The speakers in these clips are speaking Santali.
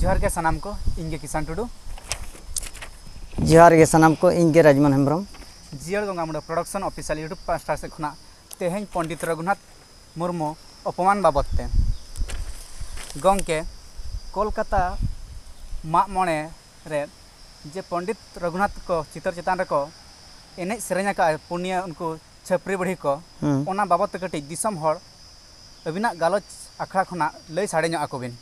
ᱡᱚᱦᱟᱨ ᱜᱮ ᱥᱟᱱᱟᱢ ᱠᱚ ᱤᱧ ᱜᱮ ᱠᱤᱥᱟᱱ ᱴᱩᱰᱩ ᱡᱚᱦᱟᱨ ᱜᱮ ᱥᱟᱱᱟᱢ ᱠᱚ ᱤᱧ ᱜᱮ ᱨᱟᱡᱽᱢᱚᱱ ᱦᱮᱢᱵᱨᱚᱢ ᱡᱤᱭᱟᱹᱲ ᱜᱚᱝᱜᱟ ᱢᱩᱰᱟᱹ ᱯᱨᱚᱰᱟᱠᱥᱚᱱ ᱚᱯᱷᱤᱥᱤᱭᱟᱞ ᱤᱭᱩᱴᱩᱵᱽ ᱯᱟᱥᱴᱟ ᱥᱮᱫ ᱠᱷᱚᱱᱟᱜ ᱛᱮᱦᱮᱧ ᱯᱚᱱᱰᱤᱛ ᱨᱚᱜᱷᱩᱱᱟᱛᱷ ᱢᱩᱨᱢᱩ ᱚᱯᱚᱢᱟᱱ ᱵᱟᱵᱚᱫ ᱛᱮ ᱜᱚᱢᱠᱮ ᱠᱳᱞᱠᱟᱛᱟ ᱢᱟᱜ ᱢᱚᱬᱮ ᱨᱮ ᱡᱮ ᱯᱚᱱᱰᱤᱛ ᱨᱚᱜᱷᱩᱱᱟᱛᱷ ᱠᱚ ᱪᱤᱛᱟᱹᱨ ᱪᱮᱛᱟᱱ ᱨᱮᱠᱚ ᱮᱱᱮᱡ ᱥᱮᱨᱮᱧ ᱟᱠᱟᱫᱼᱟ ᱯᱩᱱᱭᱟᱹ ᱩᱱᱠᱩ ᱪᱷᱟᱹᱯᱨᱤ ᱵᱩᱲᱦᱤ ᱠᱚ ᱚᱱᱟ ᱵᱟᱵᱚᱛ ᱛᱮ ᱠᱟᱹᱴᱤᱡ ᱫᱤᱥᱚᱢ ᱦᱚᱲ ᱟᱹᱵᱤᱱᱟᱜ ᱜᱟᱞᱚᱪ ᱟᱠᱷᱲᱟ ᱠᱷᱚᱱᱟᱜ ᱞᱟᱹᱭ ᱥᱟᱰᱮ ᱧᱚᱜ ᱟᱠᱚ ᱵᱤᱱ᱾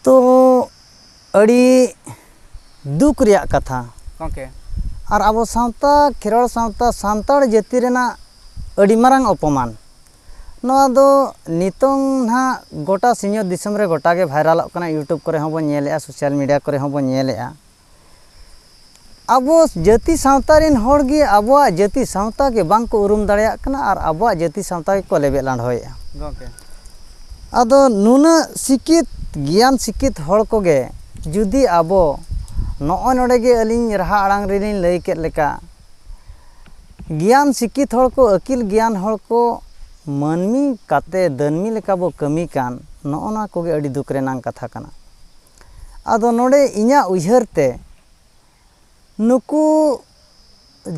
ᱛᱚ ᱟᱹᱰᱤ ᱫᱩᱠ ᱨᱮᱭᱟᱜ ᱠᱟᱛᱷᱟ ᱜᱚᱢᱠᱮ ᱟᱨ ᱟᱵᱚ ᱥᱟᱶᱛᱟ ᱠᱷᱮᱨᱣᱟᱲ ᱥᱟᱶᱛᱟ ᱥᱟᱱᱛᱟᱲ ᱡᱟᱹᱛᱤ ᱨᱮᱱᱟᱜ ᱟᱹᱰᱤ ᱢᱟᱨᱟᱝ ᱚᱯᱚᱢᱟᱱ ᱱᱚᱣᱟ ᱫᱚ ᱱᱤᱛᱚᱝ ᱦᱟᱸᱜ ᱜᱳᱴᱟ ᱥᱤᱧᱚᱛ ᱫᱤᱥᱚᱢ ᱨᱮ ᱜᱳᱴᱟᱜᱮ ᱵᱷᱟᱭᱨᱟᱞᱚᱜ ᱠᱟᱱᱟ ᱤᱭᱩᱴᱩᱵᱽ ᱠᱚᱨᱮ ᱦᱚᱸᱵᱚᱱ ᱧᱮᱞᱮᱫᱼᱟ ᱥᱳᱥᱟᱞ ᱢᱤᱰᱤᱭᱟ ᱠᱚᱨᱮ ᱦᱚᱸᱵᱚᱱ ᱧᱮᱞᱮᱫᱼᱟ ᱟᱵᱚ ᱡᱟᱹᱛᱤ ᱥᱟᱶᱛᱟ ᱨᱮᱱ ᱦᱚᱲ ᱜᱮ ᱟᱵᱚᱣᱟᱜ ᱡᱟᱹᱛᱤ ᱥᱟᱶᱛᱟ ᱜᱮ ᱵᱟᱝ ᱠᱚ ᱩᱨᱩᱢ ᱫᱟᱲᱮᱭᱟᱜ ᱠᱟᱱᱟ ᱟᱨ ᱟᱵᱚᱣᱟᱜ ᱡᱟᱹᱛᱤ ᱥᱟᱶᱛᱟ ᱜᱮᱠᱚ ᱞᱮᱵᱮᱫ ᱞᱟᱸᱰᱷᱚᱭᱮᱫᱼᱟ ᱜᱚᱢᱠᱮ ᱟᱫᱚ ᱱᱩᱱᱟᱹᱜ ᱥᱤᱠᱠᱷᱤᱛ ᱜᱮᱭᱟᱱ ᱥᱤᱠᱠᱷᱤᱛ ᱦᱚᱲ ᱠᱚᱜᱮ ᱡᱩᱫᱤ ᱟᱵᱚ ᱱᱚᱜᱼᱚᱭ ᱱᱚᱰᱮ ᱜᱮ ᱟᱹᱞᱤᱧ ᱨᱟᱦᱟ ᱟᱲᱟᱝ ᱨᱮᱞᱤᱧ ᱞᱟᱹᱭ ᱠᱮᱫ ᱞᱮᱠᱟ ᱜᱮᱭᱟᱱ ᱥᱤᱠᱠᱷᱤᱛ ᱦᱚᱲ ᱠᱚ ᱟᱹᱠᱤᱞ ᱜᱮᱭᱟᱱ ᱦᱚᱲ ᱠᱚ ᱢᱟᱹᱱᱢᱤ ᱠᱟᱛᱮᱫ ᱫᱟᱹᱱᱢᱤ ᱞᱮᱠᱟ ᱵᱚ ᱠᱟᱹᱢᱤ ᱠᱟᱱ ᱱᱚᱜᱼᱚ ᱱᱚᱣᱟ ᱠᱚᱜᱮ ᱟᱹᱰᱤ ᱫᱩᱠ ᱨᱮᱱᱟᱜ ᱠᱟᱛᱷᱟ ᱠᱟᱱᱟ ᱟᱫᱚ ᱱᱚᱰᱮ ᱤᱧᱟᱹᱜ ᱩᱭᱦᱟᱹᱨ ᱛᱮ ᱱᱩᱠᱩ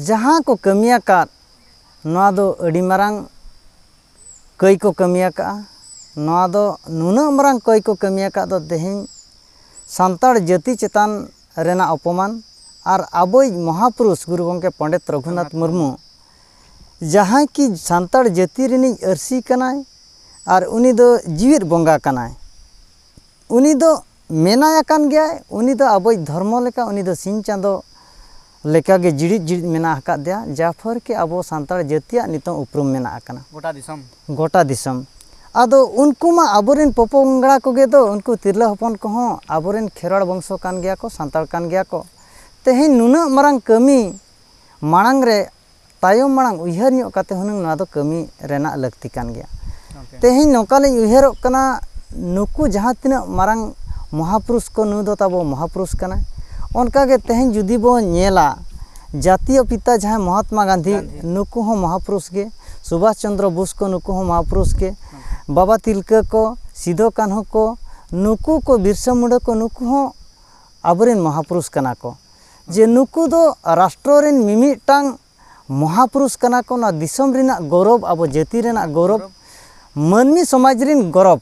ᱡᱟᱦᱟᱸ ᱠᱚ ᱠᱟᱹᱢᱤ ᱟᱠᱟᱫ ᱱᱚᱣᱟ ᱫᱚ ᱟᱹᱰᱤ ᱢᱟᱨᱟᱝ ᱠᱟᱹᱭ ᱠᱚ ᱠᱟᱹᱢᱤ ᱟᱠᱟᱫᱼᱟ ᱱᱚᱣᱟ ᱫᱚ ᱱᱩᱱᱟᱹᱜ ᱢᱟᱨᱟᱝ ᱠᱟᱹᱭ ᱠᱚ ᱠᱟᱹᱢᱤ ᱟᱠᱟᱫ ᱫᱚ ᱛᱮᱦᱮᱧ ᱥᱟᱱᱛᱟᱲ ᱡᱟᱹᱛᱤ ᱪᱮᱛᱟᱱ ᱨᱮᱱᱟᱜ ᱚᱯᱚᱢᱟᱱ ᱟᱨ ᱟᱵᱚᱭᱤᱡ ᱢᱚᱦᱟ ᱯᱩᱨᱩᱥ ᱜᱩᱨᱩ ᱜᱚᱢᱠᱮ ᱯᱚᱱᱰᱤᱛ ᱨᱚᱜᱷᱩᱱᱟᱛᱷ ᱢᱩᱨᱢᱩ ᱡᱟᱦᱟᱸᱭ ᱠᱤ ᱥᱟᱱᱛᱟᱲ ᱡᱟᱹᱛᱤ ᱨᱤᱱᱤᱡ ᱟᱹᱨᱥᱤ ᱠᱟᱱᱟᱭ ᱟᱨ ᱩᱱᱤ ᱫᱚ ᱡᱮᱣᱮᱫ ᱵᱚᱸᱜᱟ ᱠᱟᱱᱟᱭ ᱩᱱᱤ ᱫᱚ ᱢᱮᱱᱟᱭ ᱟᱠᱟᱱ ᱜᱮᱭᱟᱭ ᱩᱱᱤ ᱫᱚ ᱟᱵᱚᱭᱤᱡ ᱫᱷᱚᱨᱢᱚ ᱞᱮᱠᱟ ᱩᱱᱤ ᱫᱚ ᱥᱤᱧ ᱪᱟᱸᱫᱚ ᱞᱮᱠᱟ ᱜᱮ ᱡᱤᱲᱤᱫ ᱡᱤᱲᱤᱫ ᱢᱮᱱᱟᱜ ᱟᱠᱟᱫ ᱫᱮᱭᱟ ᱡᱟ ᱯᱷᱚᱨ ᱠᱤ ᱟᱵᱚ ᱥᱟᱱᱛᱟᱲ ᱡᱟᱹᱛᱤᱭᱟᱜ ᱱᱤᱛᱚᱜ ᱩᱯᱨᱩᱢ ᱢᱮᱱᱟᱜ ᱟᱠᱟᱱᱟ ᱜᱚᱴᱟ ᱫᱤᱥᱚᱢ ᱜᱚᱴᱟ ᱫᱤᱥᱚᱢ ᱟᱫᱚ ᱩᱱᱠᱩ ᱢᱟ ᱟᱵᱚ ᱨᱮᱱ ᱯᱚ ᱯᱚᱝᱲᱟ ᱠᱚᱜᱮ ᱫᱚ ᱩᱱᱠᱩ ᱛᱤᱨᱞᱟᱹ ᱦᱚᱯᱚᱱ ᱠᱚᱦᱚᱸ ᱟᱵᱚ ᱨᱮᱱ ᱠᱷᱮᱨᱣᱟᱲ ᱵᱚᱝᱥᱚ ᱠᱟᱱ ᱜᱮᱭᱟ ᱠᱚ ᱥᱟᱱᱛᱟᱲ ᱠᱟᱱ ᱜᱮᱭᱟ ᱠᱚ ᱛᱮᱦᱮᱧ ᱱᱩᱱᱟᱹᱜ ᱢᱟᱨᱟᱝ ᱠᱟᱹᱢᱤ ᱢᱟᱲᱟᱝ ᱨᱮ ᱛᱟᱭᱚᱢ ᱢᱟᱲᱟᱝ ᱩᱭᱦᱟᱹᱨ ᱧᱚᱜ ᱠᱟᱛᱮ ᱦᱩᱱᱟᱹᱝ ᱱᱚᱣᱟ ᱫᱚ ᱠᱟᱹᱢᱤ ᱨᱮᱱᱟᱜ ᱞᱟᱹᱠᱛᱤ ᱠᱟᱱ ᱜᱮᱭᱟ ᱛᱮᱦᱮᱧ ᱱᱚᱝᱠᱟ ᱞᱤᱧ ᱩᱭᱦᱟᱹᱨᱚᱜ ᱠᱟᱱᱟ ᱱᱩᱠᱩ ᱡᱟᱦᱟᱸ ᱛᱤᱱᱟᱹᱜ ᱢᱟᱨᱟᱝ ᱢᱚᱦᱟ ᱯᱩᱨᱩᱥ ᱠᱚ ᱱᱩᱭ ᱫᱚ ᱛᱟᱵᱚ ᱢᱚᱦᱟ ᱯᱩᱨᱩᱥ ᱠᱟᱱᱟᱭ ᱚᱱᱠᱟ ᱜᱮ ᱛᱮᱦᱮᱧ ᱡᱩᱫᱤ ᱵᱚᱱ ᱧᱮᱞᱟ ᱡᱟᱹᱛᱤᱭᱚ ᱯᱤᱛᱟ ᱡᱟᱦᱟᱸᱭ ᱢᱚᱦᱟᱛᱢᱟ ᱜᱟᱱᱫᱷᱤ ᱱᱩᱠᱩ ᱦᱚᱸ ᱢᱚᱦᱟ ᱯᱩᱨᱩᱥ ᱜᱮ ᱥᱩᱵᱷᱟᱥ ᱪᱚᱱᱫᱨᱚ ᱵᱳᱥ ᱠᱚ ᱱᱩᱠᱩ ᱦᱚᱸ ᱢᱚᱦᱟ ᱯᱩᱨᱩᱥ ᱜᱮ ᱵᱟᱵᱟ ᱛᱤᱞᱠᱟᱹ ᱠᱚ ᱥᱤᱫᱩ ᱠᱟᱹᱱᱦᱩ ᱠᱚ ᱱᱩᱠᱩ ᱠᱚ ᱵᱤᱨᱥᱟᱹ ᱢᱩᱱᱰᱟᱹ ᱠᱚ ᱱᱩᱠᱩ ᱦᱚᱸ ᱟᱵᱚ ᱨᱮᱱ ᱢᱚᱦᱟ ᱯᱩᱨᱩᱥ ᱠᱟᱱᱟ ᱠᱚ ᱡᱮ ᱱᱩᱠᱩ ᱫᱚ ᱨᱟᱥᱴᱨᱚ ᱨᱮᱱ ᱢᱤᱢᱤᱫᱴᱟᱝ ᱢᱚᱦᱟᱯᱩᱨᱩᱥ ᱠᱟᱱᱟ ᱠᱚ ᱱᱚᱣᱟ ᱫᱤᱥᱚᱢ ᱨᱮᱱᱟᱜ ᱜᱚᱨᱚᱵᱽ ᱟᱵᱚ ᱡᱟᱹᱛᱤ ᱨᱮᱱᱟᱜ ᱜᱚᱨᱚᱵᱽ ᱢᱟᱹᱱᱢᱤ ᱥᱚᱢᱟᱡᱽ ᱨᱮᱱ ᱜᱚᱨᱚᱵᱽ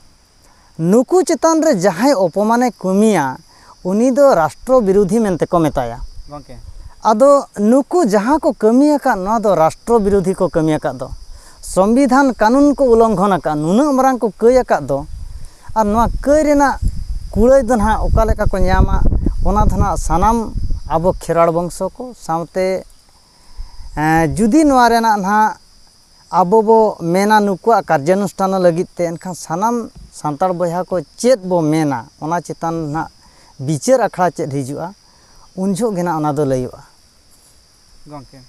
ᱱᱩᱠᱩ ᱪᱮᱛᱟᱱ ᱨᱮ ᱡᱟᱦᱟᱸᱭ ᱚᱯᱚᱢᱟᱱᱮ ᱠᱟᱹᱢᱤᱭᱟ ᱩᱱᱤ ᱫᱚ ᱨᱟᱥᱴᱨᱚ ᱵᱤᱨᱳᱫᱷᱤ ᱢᱮᱱᱛᱮ ᱠᱚ ᱢᱮᱛᱟᱭᱟ ᱜᱚᱝᱠᱮ ᱟᱫᱚ ᱱᱩᱠᱩ ᱡᱟᱦᱟᱸ ᱠᱚ ᱠᱟᱹᱢᱤ ᱟᱠᱟᱫ ᱱᱚᱣᱟ ᱫᱚ ᱨᱟᱥᱴᱨᱚ ᱵᱤᱨᱳᱫᱷᱤ ᱠᱚ ᱠᱟᱹᱢᱤ ᱟᱠᱟᱫ ᱫᱚ ᱥᱚᱝᱵᱤᱫᱷᱟᱱ ᱠᱟᱹᱱᱩᱱ ᱠᱚ ᱩᱞᱚᱝᱜᱷᱚᱱ ᱟᱠᱟᱫ ᱱᱩᱱᱟᱹᱜ ᱢᱟᱨᱟᱝ ᱠᱚ ᱠᱟᱹᱭ ᱟᱠᱟᱫ ᱫᱚ ᱟᱨ ᱱᱚᱣᱟ ᱠᱟᱹᱭ ᱨᱮᱱᱟᱜ ᱠᱩᱲᱟᱹᱭ ᱫᱚ ᱱᱟᱦᱟᱜ ᱚᱠᱟ ᱞᱮᱠᱟ ᱠᱚ ᱧᱟᱢᱟ ᱚᱱᱟ ᱫᱚ ᱱᱟᱦᱟᱜ ᱥᱟᱱᱟᱢ ᱟᱵᱚ ᱠᱷᱮᱨᱣᱟᱲ ᱵᱚᱝᱥᱚ ᱠᱚ ᱥᱟᱶᱛᱮ ᱡᱩᱫᱤ ᱱᱚᱣᱟ ᱨᱮᱱᱟᱜ ᱱᱟᱦᱟᱜ ᱟᱵᱚ ᱵᱚ ᱢᱮᱱᱟ ᱱᱩᱠᱩᱣᱟᱜ ᱠᱟᱨᱡᱟᱱᱩᱥᱴᱷᱟᱱ ᱞᱟᱹᱜᱤᱫ ᱛᱮ ᱮᱱᱠᱷᱟᱱ ᱥᱟᱱᱟᱢ ᱥᱟᱱᱛᱟᱲ ᱵᱚᱭᱦᱟ ᱠᱚ ᱪᱮᱫ ᱵᱚ ᱢᱮᱱᱟ ᱚᱱᱟ ᱪᱮᱛᱟᱱ ᱱᱟᱦᱟᱜ ᱵᱤᱪᱟᱹᱨ ᱟᱠᱷᱲᱟ ᱪᱮᱫ ᱦᱤᱡᱩᱜᱼᱟ ᱩᱱ ᱡᱚᱦᱚᱜ ᱜᱮ ᱱᱟᱦᱟᱜ ᱚᱱᱟ ᱫᱚ ᱞᱟᱹᱭᱚᱜᱼᱟ ᱜᱚᱝᱠᱮ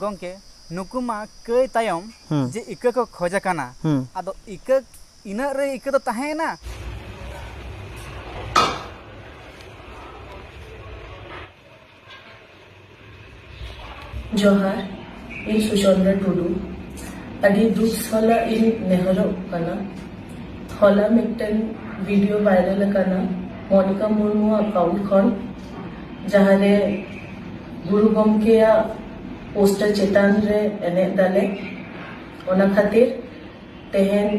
ᱜᱚᱝᱠᱮ ᱱᱩᱠᱩ ᱢᱟ ᱠᱟᱹᱭ ᱛᱟᱭᱚᱢ ᱡᱮ ᱤᱠᱟᱹ ᱠᱚ ᱠᱷᱚᱡ ᱟᱠᱟᱱᱟ ᱟᱫᱚ ᱤᱠᱟᱹ ᱤᱱᱟᱹᱜ ᱨᱮ ᱤᱠᱟᱹ ᱫᱚ ᱛᱟᱦᱮᱸᱭᱮᱱᱟ ᱡᱚᱦᱟᱨ ᱤᱧ ᱥᱩᱪᱚᱱᱫᱨᱟ ᱴᱩᱰᱩ ᱟᱹᱰᱤ ᱫᱩᱠ ᱥᱟᱞᱟᱜ ᱤᱧ ᱱᱮᱦᱚᱨᱚᱜ ᱠᱟᱱᱟ ᱦᱚᱞᱟ ᱢᱤᱫᱴᱮᱱ ᱵᱷᱤᱰᱤᱭᱳ ᱵᱷᱟᱭᱨᱟᱞ ᱟᱠᱟᱱᱟ ᱢᱚᱱᱤᱠᱟ ᱢᱩᱨᱢᱩ ᱟᱠᱟᱣᱩᱱᱴ ᱠᱷᱚᱱ ᱡᱟᱦᱟᱸᱨᱮ ᱜᱩᱨᱩ ᱜᱚᱢᱠᱮᱭᱟᱜ ᱯᱳᱥᱴᱟᱨ ᱪᱮᱛᱟᱱ ᱨᱮ ᱮᱱᱮᱡ ᱫᱟᱞᱮ ᱚᱱᱟ ᱠᱷᱟᱹᱛᱤᱨ ᱛᱮᱦᱮᱧ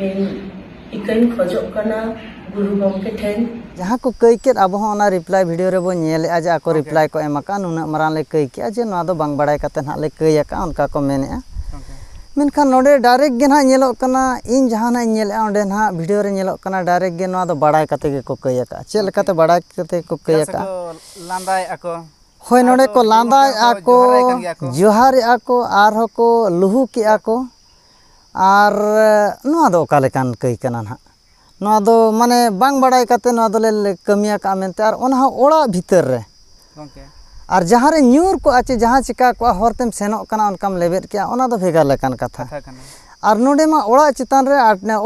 ᱤᱧ ᱤᱠᱟᱹᱧ ᱠᱷᱚᱡᱚᱜ ᱠᱟᱱᱟ ᱜᱩᱨᱩ ᱜᱚᱢᱠᱮ ᱴᱷᱮᱱ᱾ ᱡᱟᱦᱟᱸ ᱠᱚ ᱠᱟᱹᱭ ᱠᱮᱫ ᱟᱵᱚ ᱦᱚᱸ ᱚᱱᱟ ᱨᱤᱯᱞᱟᱭ ᱵᱷᱤᱰᱤᱭᱳ ᱨᱮ ᱵᱚ ᱧᱮᱞ ᱮᱫᱼᱟ ᱡᱮ ᱟᱠᱚ ᱨᱤᱯᱞᱟᱭ ᱠᱚ ᱮᱢ ᱟᱠᱟᱫᱼᱟ ᱱᱩᱱᱟᱹᱜ ᱢᱟᱨᱟᱝ ᱞᱮ ᱠᱟᱹᱭ ᱠᱮᱫᱼᱟ ᱡᱮ ᱱᱚᱣᱟ ᱫᱚ ᱵᱟᱝ ᱵᱟᱲᱟᱭ ᱠᱟᱛᱮ ᱱᱟᱦᱟᱜ ᱞᱮ ᱠᱟᱹᱭ ᱟᱠᱟᱫᱼᱟ ᱚᱱᱠᱟ ᱠᱚ ᱢᱮᱱ ᱮᱫᱼᱟ ᱢᱮᱱᱠᱷᱟᱱ ᱱᱚᱰᱮ ᱰᱟᱭᱨᱮᱠᱴ ᱜᱮ ᱱᱟᱦᱟᱜ ᱧᱮᱞᱚᱜ ᱠᱟᱱᱟ ᱤᱧ ᱡᱟᱦᱟᱸ ᱱᱟᱦᱟᱜ ᱤᱧ ᱧᱮᱞ ᱮᱫᱼᱟ ᱚᱸᱰᱮ ᱱᱟᱦᱟᱜ ᱵᱷᱤᱰᱤᱭᱳ ᱨᱮ ᱧᱮᱞᱚᱜ ᱠᱟᱱᱟ ᱰᱟᱭᱨᱮᱠᱴ ᱜᱮ ᱱᱚᱣᱟ ᱫᱚ ᱵᱟᱲᱟᱭ ᱠᱟᱛᱮ ᱜᱮᱠᱚ ᱠᱟᱹᱭ ᱟᱠᱟᱫᱼᱟ ᱪᱮᱫ ᱞᱮᱠᱟᱛᱮ ᱵᱟᱲᱟᱭ ᱠᱟᱛᱮ ᱜᱮᱠᱚ ᱠᱟᱹᱭ ᱟᱠᱟᱫᱼᱟ ᱞᱟᱸᱫᱟᱭᱮᱫᱼᱟ ᱠᱚ ᱦᱳᱭ ᱱᱚᱰᱮ ᱠᱚ ᱞᱟᱸᱫᱟᱭᱮᱫᱼᱟ ᱠᱚ ᱡᱚᱦᱟᱨᱮᱫᱼᱟ ᱠᱚ ᱟᱨᱦᱚᱸ ᱠᱚ ᱞᱩᱦᱩᱠᱮᱫᱼᱟ ᱠᱚ ᱟᱨ ᱱᱚᱣᱟ ᱫᱚ ᱚᱠᱟ ᱞᱮᱠᱟᱱ ᱠᱟᱹᱭ ᱠᱟᱱᱟ ᱱᱟᱜ ᱱᱚᱣᱟ ᱫᱚ ᱢᱟᱱᱮ ᱵᱟᱝ ᱵᱟᱲᱟᱭ ᱠᱟᱛᱮ ᱱᱚᱣᱟ ᱫᱚᱞᱮ ᱠᱟᱹᱢᱤ ᱟᱠᱟᱜᱼᱟ ᱢᱮᱱᱛᱮ ᱟᱨ ᱚᱱᱟ ᱦᱚᱸ ᱚᱲᱟᱜ ᱵᱷᱤᱛᱟᱹᱨ ᱨᱮ ᱟᱨ ᱡᱟᱦᱟᱸ ᱨᱮ ᱧᱩᱨ ᱠᱚᱜᱼᱟ ᱪᱮ ᱡᱟᱦᱟᱸ ᱪᱤᱠᱟᱹ ᱠᱚᱜᱼᱟ ᱦᱚᱨ ᱛᱮᱢ ᱥᱮᱱᱚᱜ ᱠᱟᱱᱟ ᱚᱱᱠᱟᱢ ᱞᱮᱵᱮᱫ ᱠᱮᱜᱼᱟ ᱚᱱᱟ ᱫᱚ ᱵᱷᱮᱜᱟᱨ ᱞᱮᱠᱟᱱ ᱠᱟᱛᱷᱟ ᱟᱨ ᱱᱚᱰᱮ ᱢᱟ ᱚᱲᱟᱜ ᱪᱮᱛᱟᱱ ᱨᱮ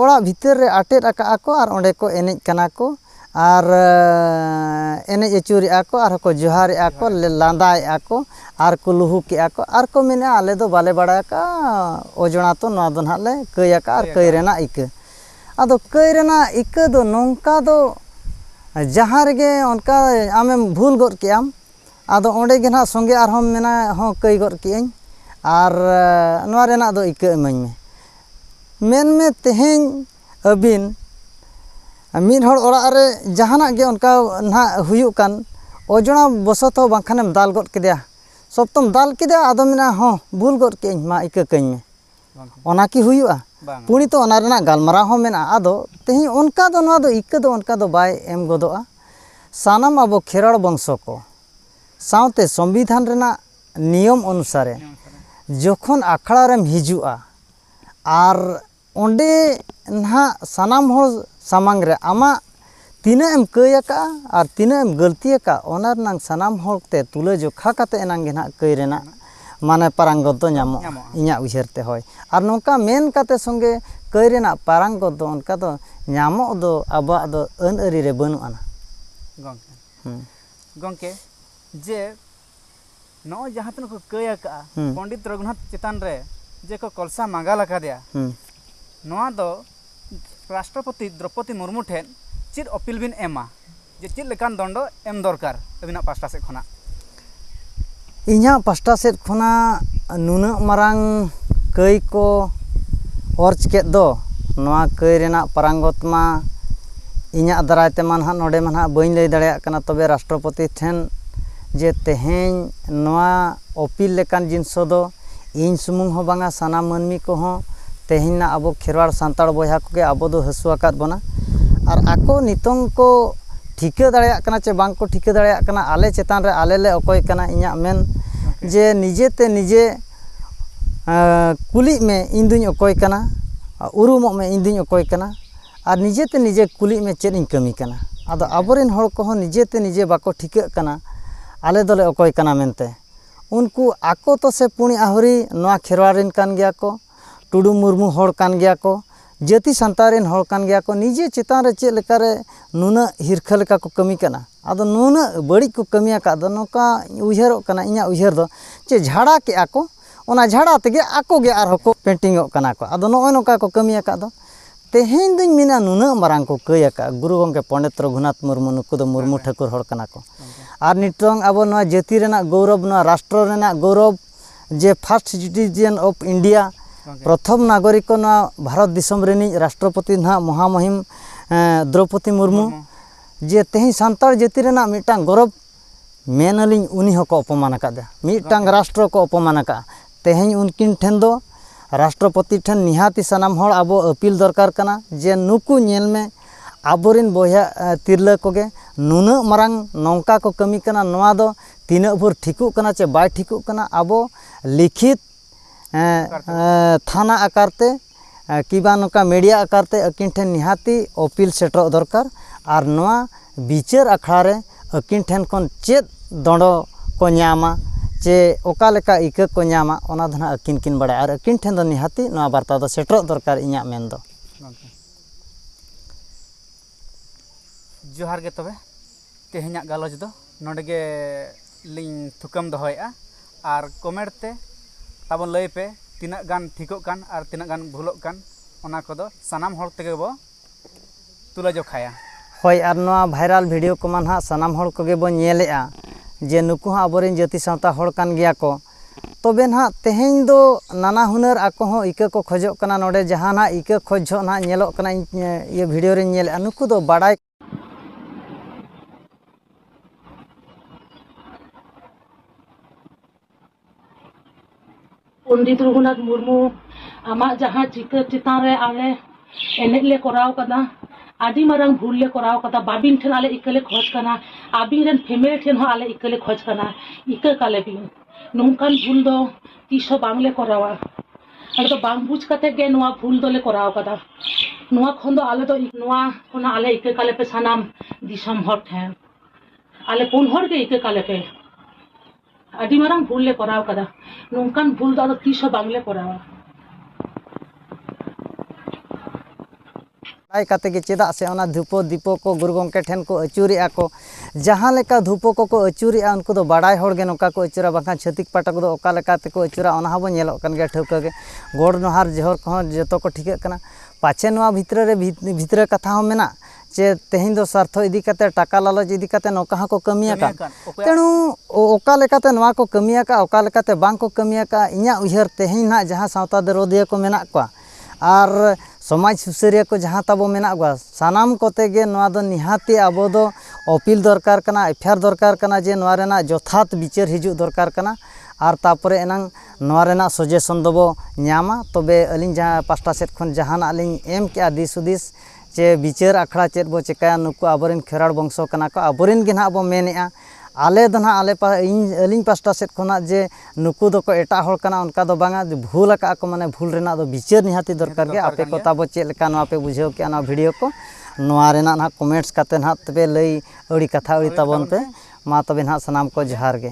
ᱚᱲᱟᱜ ᱵᱷᱤᱛᱟᱹᱨ ᱨᱮ ᱟᱴᱮᱫ ᱟᱠᱟᱜᱼᱟ ᱠᱚ ᱟᱨ ᱚᱸᱰᱮ ᱠᱚ ᱮᱱᱮᱡ ᱠᱟᱱᱟ ᱠᱚ ᱟᱨ ᱮᱱᱮᱡ ᱟᱹᱪᱩᱨᱮᱜᱼᱟ ᱠᱚ ᱟᱨᱦᱚᱸ ᱠᱚ ᱡᱚᱦᱟᱨᱮᱜᱼᱟ ᱠᱚ ᱞᱟᱸᱫᱟᱭᱮᱜᱼᱟ ᱠᱚ ᱟᱨ ᱠᱚ ᱞᱩᱦᱩᱠᱮᱜᱼᱟ ᱠᱚ ᱟᱨ ᱠᱚ ᱢᱮᱱᱮᱜᱼᱟ ᱟᱞᱮ ᱫᱚ ᱵᱟᱞᱮ ᱵᱟᱲᱟᱭ ᱠᱟᱜᱼᱟ ᱚᱡᱚᱲᱟ ᱛᱚ ᱱᱚᱣᱟ ᱫᱚ ᱦᱟᱸᱜ ᱞᱮ ᱠᱟᱹᱭ ᱠᱟᱜᱼᱟ ᱟᱨ ᱠᱟᱹᱭ ᱨᱮᱱᱟᱜ ᱤᱠᱟᱹ ᱟᱫᱚ ᱠᱟᱹᱭ ᱨᱮᱱᱟᱜ ᱤᱠᱟᱹ ᱫᱚ ᱱᱚᱝᱠᱟ ᱫᱚ ᱡᱟᱦᱟᱸ ᱨᱮᱜᱮ ᱚᱱᱠᱟ ᱟᱢᱮᱢ ᱵᱷᱩᱞ ᱜᱚᱫ ᱠᱮᱜ ᱟᱢ ᱟᱫᱚ ᱚᱸᱰᱮ ᱜᱮ ᱦᱟᱸᱜ ᱥᱚᱸᱜᱮ ᱟᱨᱦᱚᱸ ᱢᱮᱱᱟ ᱦᱚᱸ ᱠᱟᱹᱭ ᱜᱚᱫ ᱠᱮᱜ ᱟᱹᱧ ᱟᱨ ᱱᱚᱣᱟ ᱨᱮᱱᱟᱜ ᱫᱚ ᱤᱠᱟᱹ ᱤᱢᱟᱹᱧ ᱢᱮ ᱢᱮᱱᱢᱮ ᱛᱮᱦᱮᱧ ᱟᱹᱵᱤᱱ ᱢᱤᱫ ᱦᱚᱲ ᱚᱲᱟᱜ ᱨᱮ ᱡᱟᱦᱟᱱᱟᱜ ᱜᱮ ᱚᱱᱠᱟ ᱱᱟᱦᱟᱜ ᱦᱩᱭᱩᱜ ᱠᱟᱱ ᱚᱡᱽᱱᱟ ᱵᱚᱥᱚᱛᱚ ᱵᱟᱝᱠᱷᱟᱱᱮᱢ ᱫᱟᱞ ᱜᱚᱫ ᱠᱮᱫᱮᱭᱟ ᱥᱚᱠᱛᱚᱢ ᱫᱟᱞ ᱠᱮᱫᱮᱭᱟ ᱟᱫᱚᱢ ᱢᱮᱱᱟ ᱦᱚᱸ ᱵᱷᱩᱞ ᱜᱚᱫ ᱠᱮᱜ ᱟᱹᱧ ᱢᱟ ᱤᱠᱟᱹ ᱠᱟᱹᱧ ᱢᱮ ᱚᱱᱟ ᱠᱤ ᱦᱩᱭᱩᱜᱼᱟ ᱯᱩᱬᱤ ᱛᱚ ᱚᱱᱟ ᱨᱮᱱᱟᱜ ᱜᱟᱞᱢᱟᱨᱟᱣ ᱦᱚᱸ ᱢᱮᱱᱟᱜᱼᱟ ᱟᱫᱚ ᱛᱮᱦᱮᱧ ᱚᱱᱠᱟ ᱫᱚ ᱱᱚᱣᱟ ᱫᱚ ᱤᱠᱟᱹ ᱫᱚ ᱚᱱᱠᱟ ᱫᱚ ᱵᱟᱭ ᱮᱢ ᱜᱚᱫᱚᱜᱼᱟ ᱥᱟᱱᱟᱢ ᱟᱵᱚ ᱠᱷᱮᱨᱣᱟᱲ ᱵᱚᱝᱥᱚ ᱠᱚ ᱥᱟᱶᱛᱮ ᱥᱚᱝᱵᱤᱫᱷᱟᱱ ᱨᱮᱱᱟᱜ ᱱᱤᱭᱚᱢ ᱚᱱᱩᱥᱟᱨᱮ ᱡᱚᱠᱷᱚᱱ ᱟᱠᱷᱲᱟ ᱨᱮᱢ ᱦᱤᱡᱩᱜᱼᱟ ᱟᱨ ᱚᱸᱰᱮ ᱱᱟᱦᱟᱜ ᱥᱟᱱᱟᱢ ᱦᱚᱲ ᱥᱟᱢᱟᱝ ᱨᱮ ᱟᱢᱟᱜ ᱛᱤᱱᱟᱹᱜ ᱮᱢ ᱠᱟᱹᱭ ᱟᱠᱟᱫᱼᱟ ᱟᱨ ᱛᱤᱱᱟᱹᱜ ᱮᱢ ᱜᱟᱹᱞᱛᱤ ᱟᱠᱟᱫᱼᱟ ᱚᱱᱟ ᱨᱮᱱᱟᱜ ᱥᱟᱱᱟᱢ ᱦᱚᱲ ᱛᱮ ᱛᱩᱞᱟᱹ ᱡᱚᱠᱷᱟ ᱠᱟᱛᱮᱫ ᱮᱱᱟᱝ ᱜᱮ ᱱᱟᱦᱟᱜ ᱠᱟᱹᱭ ᱨᱮᱱᱟᱜ ᱢᱟᱱᱮ ᱯᱟᱨᱟᱝᱜᱚᱛ ᱫᱚ ᱧᱟᱢᱚᱜᱼᱟ ᱤᱧᱟᱹᱜ ᱩᱭᱦᱟᱹᱨ ᱛᱮ ᱦᱳᱭ ᱟᱨ ᱱᱚᱝᱠᱟ ᱢᱮᱱ ᱠᱟᱛᱮᱫ ᱥᱚᱸᱜᱮ ᱠᱟᱹᱭ ᱨᱮᱱᱟᱜ ᱯᱟᱨᱟᱝᱜᱚᱛ ᱫᱚ ᱚᱱᱠᱟ ᱫᱚ ᱧᱟᱢᱚᱜ ᱫᱚ ᱟᱵᱚᱣᱟᱜ ᱫᱚ ᱟᱹᱱ ᱟᱹᱨᱤ ᱨᱮ ᱵᱟᱹᱱᱩᱜ ᱟᱱᱟ ᱜᱚᱢᱠᱮ ᱜᱚᱢᱠᱮ ᱡᱮ ᱱᱚᱜᱼᱚᱭ ᱡᱟᱦᱟᱸ ᱛᱤᱱᱟᱹᱜ ᱠᱚ ᱠᱟᱹᱭ ᱟᱠᱟᱜᱼᱟ ᱯᱚᱱᱰᱤᱛ ᱨᱚᱜᱷᱩᱱᱟᱛᱷ ᱪᱮᱛᱟᱱ ᱨᱮ ᱡᱮ ᱠᱚ ᱠᱚᱞᱥᱟ ᱢᱟᱸᱜᱟᱞ ᱟᱠᱟᱫᱮᱭᱟ ᱱᱚᱣᱟ ᱫᱚ ᱨᱟᱥᱴᱨᱚᱯᱚᱛᱤ ᱫᱨᱚᱯᱚᱫᱤ ᱢᱩᱨᱢᱩ ᱴᱷᱮᱱ ᱪᱮᱫ ᱚᱯᱤᱞ ᱵᱤᱱ ᱮᱢᱟ ᱡᱮ ᱪᱮᱫ ᱞᱮᱠᱟᱱ ᱫᱚᱱᱰᱚ ᱮᱢ ᱫᱚᱨᱠᱟᱨ ᱟᱹᱵᱤᱱᱟᱜ ᱯᱟᱥᱴᱟ ᱥᱮᱫ ᱠᱷᱚᱱᱟᱜ ᱤᱧᱟᱹᱜ ᱯᱟᱥᱴᱟ ᱥᱮᱫ ᱠᱷᱚᱱᱟᱜ ᱱᱩᱱᱟᱹᱜ ᱢᱟᱨᱟᱝ ᱠᱟᱹᱭ ᱠᱚ ᱚᱨᱡᱽ ᱠᱮᱫ ᱫᱚ ᱱᱚᱣᱟ ᱠᱟᱹᱭ ᱨᱮᱱᱟᱜ ᱯᱟᱨᱟᱝᱜᱚᱛ ᱢᱟ ᱤᱧᱟᱹᱜ ᱫᱟᱨᱟᱭ ᱛᱮᱢᱟ ᱱᱟᱦᱟᱜ ᱱᱚᱰᱮ ᱢᱟ ᱱᱟᱦᱟᱜ ᱵᱟᱹᱧ ᱞᱟᱹᱭ ᱫᱟᱲᱮᱭᱟᱜ ᱠᱟᱱᱟ ᱛᱚᱵᱮ ᱨᱟᱥᱴᱨᱚᱯᱚᱛᱤ ᱴᱷᱮᱱ ᱡᱮ ᱛᱮᱦᱮᱧ ᱱᱚᱣᱟ ᱚᱯᱤᱞ ᱞᱮᱠᱟᱱ ᱡᱤᱱᱥᱚ ᱫᱚ ᱤᱧ ᱥᱩᱢᱩᱝ ᱦᱚᱸ ᱵᱟᱝᱟ ᱥᱟᱱᱟᱢ ᱢᱟᱹᱱᱢᱤ ᱠᱚᱦᱚᱸ ᱛᱮᱦᱮᱧ ᱱᱟᱜ ᱟᱵᱚ ᱠᱷᱮᱨᱣᱟᱲ ᱥᱟᱱᱛᱟᱲ ᱵᱚᱭᱦᱟ ᱠᱚᱜᱮ ᱟᱵᱚ ᱫᱚ ᱦᱟᱹᱥᱩ ᱟᱠᱟᱫ ᱵᱚᱱᱟ ᱟᱨ ᱟᱠᱚ ᱱᱤᱛᱚᱝ ᱠᱚ ᱴᱷᱤᱠᱟᱹ ᱫᱟᱲᱮᱭᱟᱜ ᱠᱟᱱᱟ ᱪᱮ ᱵᱟᱝ ᱠᱚ ᱴᱷᱤᱠᱟᱹ ᱫᱟᱲᱮᱭᱟᱜ ᱠᱟᱱᱟ ᱟᱞᱮ ᱪᱮᱛᱟᱱ ᱨᱮ ᱟᱞᱮ ᱞᱮ ᱚᱠᱚᱭ ᱠᱟᱱᱟ ᱤᱧᱟᱹᱜ ᱢᱮᱱ ᱡᱮ ᱱᱤᱡᱮ ᱛᱮ ᱱᱤᱡᱮ ᱠᱩᱞᱤᱜ ᱢᱮ ᱤᱧ ᱫᱩᱧ ᱚᱠᱚᱭ ᱠᱟᱱᱟ ᱩᱨᱩᱢᱚᱜ ᱢᱮ ᱤᱧ ᱫᱩᱧ ᱚᱠᱚᱭ ᱠᱟᱱᱟ ᱟᱨ ᱱᱤᱡᱮ ᱛᱮ ᱱᱤᱡᱮ ᱠᱩᱞᱤᱜ ᱢᱮ ᱪᱮᱫ ᱤᱧ ᱠᱟᱹᱢᱤ ᱠᱟᱱᱟ ᱟᱫᱚ ᱟᱵᱚ ᱨᱮᱱ ᱦᱚᱲ ᱠᱚᱦᱚᱸ ᱱᱤᱡᱮ ᱛᱮ ᱱᱤᱡᱮ ᱵᱟᱠᱚ ᱴᱷᱤᱠᱟᱹᱜ ᱠᱟᱱᱟ ᱟᱞᱮ ᱫᱚᱞᱮ ᱚᱠᱚᱭ ᱠᱟᱱᱟ ᱢᱮᱱᱛᱮ ᱩᱱᱠᱩ ᱟᱠᱚ ᱛᱚ ᱥᱮ ᱯᱩᱬ ᱟᱦᱨᱤ ᱱᱚᱣᱟ ᱠᱷᱮᱨᱣᱟᱲ ᱨᱮᱱ ᱠᱟᱱ ᱜᱮᱭᱟ ᱠᱚ ᱴᱩᱰᱩ ᱢᱩᱨᱢᱩ ᱦᱚᱲ ᱠᱟᱱ ᱜᱮᱭᱟ ᱠᱚ ᱡᱟᱹᱛᱤ ᱥᱟᱱᱛᱟᱲ ᱨᱮᱱ ᱦᱚᱲ ᱠᱟᱱ ᱜᱮᱭᱟ ᱠᱚ ᱱᱤᱡᱮ ᱪᱮᱛᱟᱱ ᱨᱮ ᱪᱮᱫ ᱞᱮᱠᱟ ᱨᱮ ᱱᱩᱱᱟᱹᱜ ᱦᱤᱨᱠᱷᱟᱹ ᱞᱮᱠᱟ ᱠᱚ ᱠᱟᱹᱢᱤ ᱠᱟᱱᱟ ᱟᱫᱚ ᱱᱩᱱᱟᱹᱜ ᱵᱟᱹᱲᱤᱡ ᱠᱚ ᱠᱟᱹᱢᱤ ᱟᱠᱟᱫ ᱫᱚ ᱱᱚᱝᱠᱟ ᱩᱭᱦᱟᱹᱨᱚᱜ ᱠᱟᱱᱟ ᱤᱧᱟᱹᱜ ᱩᱭᱦᱟᱹᱨ ᱫᱚ ᱡᱮ ᱡᱷᱟᱲᱟ ᱠᱮᱜᱼᱟ ᱠᱚ ᱚᱱᱟ ᱡᱷᱟᱲᱟ ᱛᱮᱜᱮ ᱟᱠᱚ ᱜᱮ ᱟᱨᱦᱚᱸ ᱠᱚ ᱯᱮᱱᱴᱤᱝᱚᱜ ᱠᱟᱱᱟ ᱠᱚ ᱟᱫᱚ ᱱᱚᱜᱼᱚᱭ ᱱᱚᱝᱠᱟ ᱠᱚ ᱠᱟᱹᱢᱤ ᱟᱠᱟᱫ ᱫᱚ ᱛᱮᱦᱮᱧ ᱫᱩᱧ ᱢᱮᱱᱟ ᱱᱩᱱᱟᱹᱜ ᱢᱟᱨᱟᱝ ᱠᱚ ᱠᱟᱹᱭ ᱟᱠᱟᱫᱼᱟ ᱜᱩᱨᱩ ᱜᱚᱢᱠᱮ ᱯᱚᱱᱰᱤᱛ ᱨᱚᱜᱷᱩᱱᱟᱛᱷ ᱢᱩᱨᱢᱩ ᱱᱩᱠᱩ ᱫᱚ ᱢᱩᱨᱢᱩ ᱴᱷᱟᱹᱠᱩᱨ ᱦᱚᱲ ᱠᱟᱱᱟ ᱠᱚ ᱟᱨ ᱱᱤᱛᱚᱝ ᱟᱵᱚ ᱱᱚᱣᱟ ᱡᱟᱹᱛᱤ ᱨᱮᱱᱟᱜ ᱜᱳᱣᱨᱚᱵᱽ ᱱᱚᱣᱟ ᱨᱟᱥᱴᱨᱚ ᱨᱮᱱᱟᱜ ᱜᱳᱣᱨᱚᱵᱽ ᱡᱮ ᱯᱷᱟᱥᱴ ᱥᱤᱴᱤᱡᱮᱱ ᱚᱯᱷ ᱤᱱᱰᱤᱭᱟ ᱯᱨᱚᱛᱷᱚᱢ ᱱᱟᱜᱚᱨᱤᱠ ᱠᱚ ᱱᱚᱣᱟ ᱵᱷᱟᱨᱚᱛ ᱫᱤᱥᱚᱢ ᱨᱤᱱᱤᱡ ᱨᱟᱥᱴᱨᱚᱯᱚᱛᱤ ᱱᱟᱦᱟᱜ ᱢᱚᱦᱟ ᱢᱚᱦᱤᱢ ᱫᱨᱳᱣᱯᱚᱫᱤ ᱢᱩᱨᱢᱩ ᱡᱮ ᱛᱮᱦᱮᱧ ᱥᱟᱱᱛᱟᱲ ᱡᱟᱹᱛᱤ ᱨᱮᱱᱟᱜ ᱢᱤᱫᱴᱟᱝ ᱜᱚᱨᱚᱵᱽ ᱢᱮᱱ ᱟᱹᱞᱤᱧ ᱩᱱᱤ ᱦᱚᱸᱠᱚ ᱚᱯᱚᱢᱟᱱ ᱟᱠᱟᱫᱮᱭᱟ ᱢᱤᱫᱴᱟᱝ ᱨᱟᱥᱴᱨᱚ ᱠᱚ ᱚᱯᱚᱢᱟᱱ ᱟᱠᱟᱫᱼᱟ ᱛᱮᱦᱮᱧ ᱩᱱᱠᱤᱱ ᱴᱷᱮᱱ ᱫᱚ ᱨᱟᱥᱴᱨᱚᱯᱚᱛᱤ ᱴᱷᱮᱱ ᱱᱤᱦᱟᱹᱛᱤ ᱥᱟᱱᱟᱢ ᱦᱚᱲ ᱟᱵᱚ ᱟᱹᱯᱤᱞ ᱫᱚᱨᱠᱟᱨ ᱠᱟᱱᱟ ᱡᱮ ᱱᱩᱠᱩ ᱧᱮᱞ ᱢᱮ ᱟᱵᱚ ᱨᱮᱱ ᱵᱚᱭᱦᱟ ᱛᱤᱨᱞᱟᱹ ᱠᱚᱜᱮ ᱱᱩᱱᱟᱹᱜ ᱢᱟᱨᱟᱝ ᱱᱚᱝᱠᱟ ᱠᱚ ᱠᱟᱹᱢᱤ ᱠᱟᱱᱟ ᱱᱚᱣᱟ ᱫᱚ ᱛᱤᱱᱟᱹᱜ ᱵᱷᱳᱨ ᱴᱷᱤᱠᱚᱜ ᱠᱟᱱᱟ ᱪᱮ ᱵᱟᱭ ᱴᱷᱤᱠᱚᱜ ᱠᱟᱱᱟ ᱟᱵᱚ ᱞᱤᱠᱷᱤᱛ ᱛᱷᱟᱱᱟ ᱟᱠᱟᱨ ᱛᱮ ᱠᱤᱵᱟ ᱱᱚᱝᱠᱟ ᱢᱤᱰᱤᱭᱟ ᱟᱠᱟᱨ ᱛᱮ ᱟᱹᱠᱤᱱ ᱴᱷᱮᱱ ᱱᱤᱦᱟᱹᱛᱤ ᱟᱹᱯᱤᱞ ᱥᱮᱴᱮᱨᱚᱜ ᱫᱚᱨᱠᱟᱨ ᱟᱨ ᱱᱚᱣᱟ ᱵᱤᱪᱟᱹᱨ ᱟᱠᱷᱲᱟ ᱨᱮ ᱟᱹᱠᱤᱱ ᱴᱷᱮᱱ ᱠᱷᱚᱱ ᱪᱮᱫ ᱫᱚᱸᱰᱚ ᱠᱚ ᱧᱟᱢᱟ ᱪᱮ ᱚᱠᱟ ᱞᱮᱠᱟ ᱟᱹᱭᱠᱟᱹ ᱠᱚ ᱧᱟᱢᱟ ᱚᱱᱟ ᱫᱚ ᱦᱟᱸᱜ ᱟᱹᱠᱤᱱ ᱠᱤᱱ ᱵᱟᱲᱟᱭᱟ ᱟᱨ ᱟᱹᱠᱤᱱ ᱴᱷᱮᱱ ᱫᱚ ᱱᱤᱦᱟᱹᱛᱤ ᱱᱚᱣᱟ ᱵᱟᱨᱛᱟ ᱫᱚ ᱥᱮᱴᱮᱨᱚᱜ ᱫᱚᱨᱠᱟᱨ ᱤᱧᱟᱹᱜ ᱢᱮᱱ ᱫᱚ ᱡᱚᱦᱟᱨ ᱜᱮ ᱛᱚᱵᱮ ᱛᱮᱦᱮᱧᱟᱜ ᱜᱟᱞᱚᱪ ᱫᱚ ᱱᱚᱰᱮ ᱜᱮ ᱞᱤᱧ ᱛᱷᱩᱠᱟᱹᱢ ᱫᱚᱦᱚᱭᱮᱜᱼᱟ ᱟᱨ ᱠᱚᱢᱮᱱᱴ ᱛᱮ ᱛᱟᱵᱚᱱ ᱞᱟᱹᱭ ᱯᱮ ᱛᱤᱱᱟᱹᱜ ᱜᱟᱱ ᱴᱷᱤᱠᱚᱜ ᱠᱟᱱ ᱟᱨ ᱛᱤᱱᱟᱹᱜ ᱜᱟᱱ ᱵᱷᱩᱞᱚᱜ ᱠᱟᱱ ᱚᱱᱟ ᱠᱚᱫᱚ ᱥᱟᱱᱟᱢ ᱦᱚᱲ ᱛᱮᱜᱮ ᱵᱚ ᱛᱩᱞᱟᱹ ᱡᱚᱠᱷᱟᱭᱟ ᱦᱳᱭ ᱟᱨ ᱱᱚᱣᱟ ᱵᱷᱟᱭᱨᱟᱞ ᱵᱷᱤᱰᱤᱭᱳ ᱠᱚᱢᱟ ᱱᱟᱦᱟᱜ ᱥᱟᱱᱟᱢ ᱦᱚᱲ ᱠᱚᱜᱮ ᱵᱚᱱ ᱧᱮᱞᱮᱜᱼᱟ ᱡᱮ ᱱᱩᱠᱩ ᱦᱚᱸ ᱟᱵᱚ ᱨᱮᱱ ᱡᱟᱹᱛᱤ ᱥᱟᱶᱛᱟ ᱦᱚᱲ ᱠᱟᱱ ᱜᱮᱭᱟ ᱠᱚ ᱛᱚᱵᱮ ᱱᱟᱦᱟᱜ ᱛᱮᱦᱮᱧ ᱫᱚ ᱱᱟᱱᱟ ᱦᱩᱱᱟᱹᱨ ᱟᱠᱚ ᱦᱚᱸ ᱤᱠᱟᱹ ᱠᱚ ᱠᱷᱚᱡᱚᱜ ᱠᱟᱱᱟ ᱱᱚᱰᱮ ᱡᱟᱦᱟᱱᱟᱜ ᱤᱠᱟᱹ ᱠᱷᱚᱡ ᱡᱚᱦᱚᱜ ᱱᱟᱦᱟᱜ ᱧᱮᱞᱚᱜ ᱠᱟᱱᱟ ᱤᱧ ᱤᱭᱟᱹ ᱵᱷᱤᱰᱤᱭᱳ ᱨᱮᱧ ᱧᱮᱞᱮᱜᱼᱟ ᱱᱩᱠᱩ ᱫᱚ ᱵᱟᱰᱟᱭ ᱯᱚᱱᱰᱤᱛ ᱨᱚᱜᱷᱩᱱᱟᱛᱷ ᱢᱩᱨᱢᱩ ᱟᱢᱟᱜ ᱡᱟᱦᱟᱸ ᱪᱤᱛᱟᱹᱨ ᱪᱮᱛᱟᱱ ᱨᱮ ᱟᱞᱮ ᱮᱱᱮᱡ ᱞᱮ ᱠᱚᱨᱟᱣ ᱠᱟᱫᱟ ᱟᱹᱰᱤ ᱢᱟᱨᱟᱝ ᱵᱷᱩᱞ ᱞᱮ ᱠᱚᱨᱟᱣ ᱠᱟᱫᱟ ᱵᱟᱵᱤᱱ ᱴᱷᱮᱱ ᱟᱞᱮ ᱤᱠᱟᱹ ᱞᱮ ᱠᱷᱚᱡᱽ ᱠᱟᱱᱟ ᱟᱵᱤᱱ ᱨᱮᱱ ᱯᱷᱮᱢᱮᱞᱤ ᱴᱷᱮᱱ ᱦᱚᱸ ᱟᱞᱮ ᱤᱠᱟᱹ ᱞᱮ ᱠᱷᱚᱡᱽ ᱠᱟᱱᱟ ᱤᱠᱟᱹ ᱠᱟᱞᱮ ᱵᱤᱱ ᱱᱚᱝᱠᱟᱱ ᱵᱷᱩᱞ ᱫᱚ ᱛᱤᱥ ᱦᱚᱸ ᱵᱟᱝᱞᱮ ᱠᱚᱨᱟᱣᱟ ᱟᱞᱮ ᱫᱚ ᱵᱟᱝ ᱵᱩᱡᱽ ᱠᱟᱛᱮ ᱜᱮ ᱱᱚᱣᱟ ᱵᱷᱩᱞ ᱫᱚᱞᱮ ᱠᱚᱨᱟᱣ ᱠᱟᱫᱟ ᱱᱚᱣᱟ ᱠᱷᱚᱱ ᱫᱚ ᱟᱞᱮ ᱫᱚ ᱱᱚᱣᱟ ᱠᱷᱚᱱᱟᱜ ᱟᱞᱮ ᱤᱠᱟᱹ ᱠᱟᱞᱮ ᱯᱮ ᱥᱟᱱᱟᱢ ᱫᱤᱥᱚᱢ ᱦᱚᱲ ᱴᱷᱮᱱ ᱟᱞᱮ ᱯᱩᱱ ᱦᱚᱲ ᱜᱮ ᱤᱠᱟᱹ ᱠᱟᱞᱮ ᱯᱮ ᱟᱹᱰᱤ ᱢᱟᱨᱟᱝ ᱵᱷᱩᱞ ᱞᱮ ᱠᱚᱨᱟᱣ ᱠᱟᱫᱟ ᱱᱚᱝᱠᱟᱱ ᱵᱷᱩᱞ ᱫᱚ ᱟᱫᱚ ᱛᱤᱥ ᱦᱚᱸ ᱵᱟᱝᱞᱮ ᱠᱚᱨᱟᱣᱟ ᱵᱟᱰᱟᱭ ᱠᱟᱛᱮ ᱜᱮ ᱪᱮᱫᱟᱜ ᱥᱮ ᱚᱱᱟ ᱫᱷᱩᱯᱚ ᱫᱤᱯᱚ ᱠᱚ ᱜᱩᱨᱩ ᱜᱚᱢᱠᱮ ᱴᱷᱮᱱ ᱠᱚ ᱟᱹᱪᱩᱨᱮᱜᱼᱟ ᱠᱚ ᱡᱟᱦᱟᱸ ᱞᱮᱠᱟ ᱫᱷᱩᱯᱚ ᱠᱚᱠᱚ ᱟᱹᱪᱩᱨᱮᱜᱼᱟ ᱩᱱᱠᱩ ᱫᱚ ᱵᱟᱲᱟᱭ ᱦᱚᱲ ᱜᱮ ᱱᱚᱝᱠᱟ ᱠᱚ ᱟᱹᱪᱩᱨᱟ ᱵᱟᱝᱠᱷᱟᱱ ᱪᱷᱟᱹᱛᱤᱠ ᱯᱟᱦᱴᱟ ᱠᱚᱫᱚ ᱚᱠᱟ ᱞᱮᱠᱟ ᱛᱮᱠᱚ ᱟᱹᱪᱩᱨᱟ ᱚᱱᱟ ᱦᱚᱸᱵᱚ ᱧᱮᱞᱚᱜ ᱠᱟᱱ ᱜᱮᱭᱟ ᱴᱷᱟᱹᱣᱠᱟᱹ ᱜᱮ ᱜᱚᱰ ᱡᱚᱦᱟᱨ ᱡᱚᱦᱚᱨ ᱠᱚᱦᱚᱸ ᱡᱚᱛᱚ ᱠᱚ ᱴᱷᱤᱠᱟᱹᱜ ᱠᱟᱱᱟ ᱯᱟᱪᱷᱮ ᱱᱚᱣᱟ ᱵᱷᱤᱛᱨᱤ ᱨᱮ ᱵᱷᱤᱛᱨᱤ ᱠᱟᱛᱷᱟ ᱦᱚᱸ ᱢᱮᱱᱟᱜ ᱪᱮ ᱛᱮᱦᱮᱧ ᱫᱚ ᱥᱟᱨᱛᱷᱚ ᱤᱫᱤ ᱠᱟᱛᱮ ᱴᱟᱠᱟ ᱞᱟᱞᱚᱪ ᱤᱫᱤ ᱠᱟᱛᱮ ᱱᱚᱝᱠᱟ ᱦᱚᱸᱠᱚ ᱠᱟᱹᱢᱤ ᱟᱠᱟᱫ ᱛᱮᱬᱩ ᱚᱠᱟ ᱞᱮᱠᱟᱛᱮ ᱱᱚᱣᱟ ᱠᱚ ᱠᱟᱹᱢᱤ ᱟᱠᱟᱫ ᱚᱠᱟ ᱞᱮᱠᱟᱛᱮ ᱵᱟᱝ ᱠᱚ ᱠᱟᱹᱢᱤ ᱟᱠᱟᱫ ᱤᱧᱟᱹᱜ ᱩᱭᱦᱟᱹᱨ ᱛᱮᱦᱮᱧ ᱱᱟᱦᱟᱜ ᱡᱟᱦᱟᱸ ᱥᱟᱶᱛᱟ ᱫᱚᱨᱚᱫᱤᱭᱟᱹ ᱠᱚ ᱢᱮᱱᱟᱜ ᱠᱚᱣᱟ ᱟᱨ ᱥᱚᱢᱟᱡᱽ ᱥᱩᱥᱟᱹᱨᱤᱭᱟᱹ ᱠᱚ ᱡᱟᱦᱟᱸ ᱛᱟᱵᱚ ᱢᱮᱱᱟᱜ ᱠᱚᱣᱟ ᱥᱟᱱᱟᱢ ᱠᱚᱛᱮ ᱜᱮ ᱱᱚᱣᱟ ᱫᱚ ᱱᱤᱦᱟᱹᱛᱤ ᱟᱵᱚ ᱫᱚ ᱟᱹᱯᱤᱞ ᱫᱚᱨᱠᱟᱨ ᱠᱟᱱᱟ ᱮᱯᱷᱭᱟᱨ ᱫᱚᱨᱠᱟᱨ ᱠᱟᱱᱟ ᱡᱮ ᱱᱚᱣᱟ ᱨᱮᱱᱟᱜ ᱡᱚᱛᱷᱟᱛ ᱵᱤᱪᱟᱹᱨ ᱦᱤᱡᱩᱜ ᱫᱚᱨᱠᱟᱨ ᱠᱟᱱᱟ ᱟᱨ ᱛᱟᱨᱯᱚᱨᱮ ᱮᱱᱟᱝ ᱱᱚᱣᱟ ᱨᱮᱱᱟᱜ ᱥᱚᱡᱮᱥᱚᱱ ᱫᱚᱵᱚ ᱧᱟᱢᱟ ᱛᱚᱵᱮ ᱟᱹᱞᱤᱧ ᱡᱟᱦᱟᱸ ᱯᱟᱥᱴᱟ ᱥᱮᱫ ᱠᱷᱚᱱ ᱡᱟᱦᱟᱱᱟᱜ ᱞᱤᱧ ᱮᱢ ᱠᱮᱜᱼᱟ ᱫᱤᱥ ᱦᱩᱫᱤᱥ ᱪᱮ ᱵᱤᱪᱟᱹᱨ ᱟᱠᱷᱲᱟ ᱪᱮᱫ ᱵᱚ ᱪᱮᱠᱟᱭᱟ ᱱᱩᱠᱩ ᱟᱵᱚᱨᱮᱱ ᱠᱷᱮᱨᱣᱟᱲ ᱵᱚᱝᱥᱚ ᱠᱟᱱᱟ ᱠᱚ ᱟᱵᱚᱨᱮᱱ ᱜᱮ ᱱᱟᱦᱟᱜ ᱵᱚ ᱢᱮᱱᱮᱜᱼᱟ ᱟᱞᱮ ᱫᱚ ᱱᱟᱦᱟᱜ ᱟᱞᱮ ᱯᱟᱦᱟᱴᱟ ᱤᱧ ᱟᱹᱞᱤᱧ ᱯᱟᱥᱴᱟ ᱥᱮᱫ ᱠᱷᱚᱱᱟᱜ ᱡᱮ ᱱᱩᱠᱩ ᱫᱚᱠᱚ ᱮᱴᱟᱜ ᱦᱚᱲ ᱠᱟᱱᱟ ᱚᱱᱠᱟ ᱫᱚ ᱵᱟᱝᱟ ᱵᱷᱩᱞ ᱟᱠᱟᱜᱼᱟ ᱠᱚ ᱢᱟᱱᱮ ᱵᱷᱩᱞ ᱨᱮᱱᱟᱜ ᱫᱚ ᱵᱤᱪᱟᱹᱨ ᱱᱤᱦᱟᱹᱛ ᱫᱚᱨᱠᱟᱨ ᱜᱮᱭᱟ ᱟᱯᱮ ᱠᱚ ᱛᱟᱵᱚ ᱪᱮᱫ ᱞᱮᱠᱟ ᱱᱚᱣᱟ ᱯᱮ ᱵᱩᱡᱷᱟᱹᱣ ᱠᱮᱜᱼᱟ ᱱᱚᱣᱟ ᱵᱷᱤᱰᱭᱳ ᱠᱚ ᱱᱚᱣᱟ ᱨᱮᱱᱟᱜ ᱱᱟᱦᱟᱜ ᱠᱚᱢᱮᱱᱴᱥ ᱠᱟᱛᱮᱫ ᱱᱟᱦᱟᱜ ᱛᱚᱵᱮ ᱞᱟᱹᱭ ᱟᱹᱣᱲᱤ ᱠᱟᱛᱷᱟ ᱟᱹᱣᱲᱤ ᱛᱟᱵᱚᱱ ᱯᱮ ᱢᱟ ᱛᱚᱵᱮ ᱱᱟᱦᱟᱜ ᱥᱟᱱᱟᱢ ᱠᱚ ᱡᱚᱦᱟᱨ ᱜᱮ